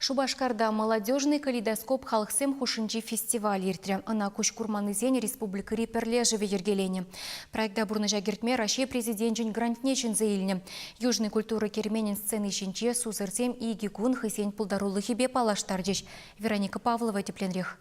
Шупашкарта «Молодежный калейдоскоп» халӑхсем хушшинчи фестиваль иртрӗ. Ӑна куҫ курманнисен республикӑри пӗрлешӗвӗ йӗркеленӗ. Проекта пурнӑҫа кӗртме Раҫҫей Президенчӗн грантне ҫӗнсе илнӗ. Южный культура керменӗн сцени ҫинче сусӑрсем икӗ кун хӑйсен пултарулӑхӗпе паллаштарчӗҫ. Вероника Павлова тӗпленрех.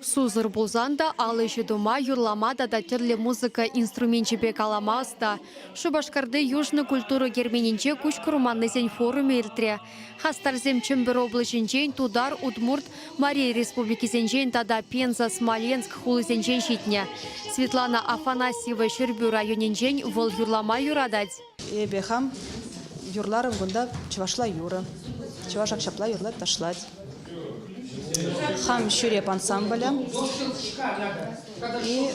Сусӑр пулсан та ал ӗҫӗ тума, юрлама тата тӗрлӗ музыка инструменчӗпе калама ӑста. Шупашкарти Южный культура керменӗнче куҫ курманнисен форумӗ иртрӗ. Хастарсем Чӗмпӗр облаҫӗнчен, Тутар, Удмурт, Мари Республикисенчен тата Пенза, Смоленск хулисенчен ҫитнӗ. Светлана Афанасьева Ҫӗрпӳ районӗнчен вӑл юрлама юратать. Эпӗ хам юрларӑм кунта чӑвашла юрӑ. Чӑваш ак ҫапла юрлать, ташлать. Хам ҫӳреп ансамблӗ и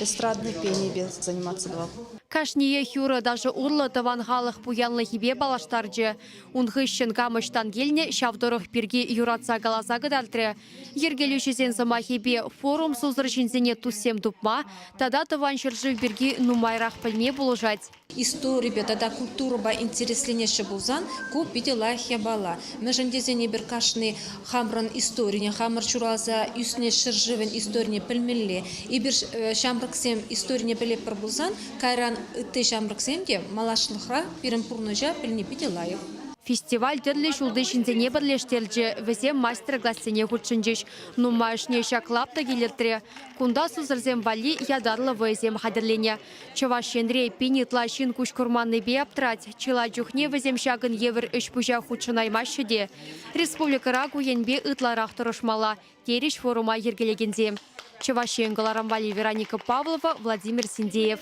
эстрадный пенипе заниматься тӑвам. Кашниех юрӑ-ташӑ урлӑ тӑван халӑх пуянлӑхӗпе паллаштарчӗ. Ун хыҫҫӑн кам ӑҫтан килнӗ, ҫав тӑрӑх пирки юратса каласа кӑтартрӗ Йӗркелӳҫӗсен сӑмахӗпе, форум сусӑр ҫынсене туссем тупма тата тӑван ҫӗршыв пирки нумайрах пӗлме пулӑшать. Историпе тата культурӑпа интересленеҫҫӗ пулсан, ку питӗ лайӑх япала. Мӗншӗн тесен эпир кашни хамӑрӑн историне, хамӑр ҫуралса ӳснӗ ҫӗршывӗн историне пӗлмелле. Эпир ҫамрӑксем историне пӗлетпӗр пулсан, кайран ытти ҫамрӑксем те малашлӑхра пирӗн пурнӑҫа пӗлни питӗ лайӑх. Фестиваль тӗрлӗ ҫулти ҫынсене пӗрлештерчӗ, вӗсем мастер-классене хутшӑнчӗҫ. Нумайӑшне ҫак лаптӑк илӗртрӗ. Кунта сусӑрсем валли ятарлӑ вӑйӑсем хатӗрленӗ. Чӑваш Енре пин ытла ҫын куҫ курманнипе аптрать, чылай чухне вӗсем ҫакӑн евӗр ӗҫ-пуҫа хутшӑнаймаҫҫӗ те. Республикӑра ку енпе ытларах тӑрӑшмалла, терӗҫ форума йӗркелекенсем, Чӑваш Ен кӑларӑм валли Вероника Павлова, Владимир Синдеев.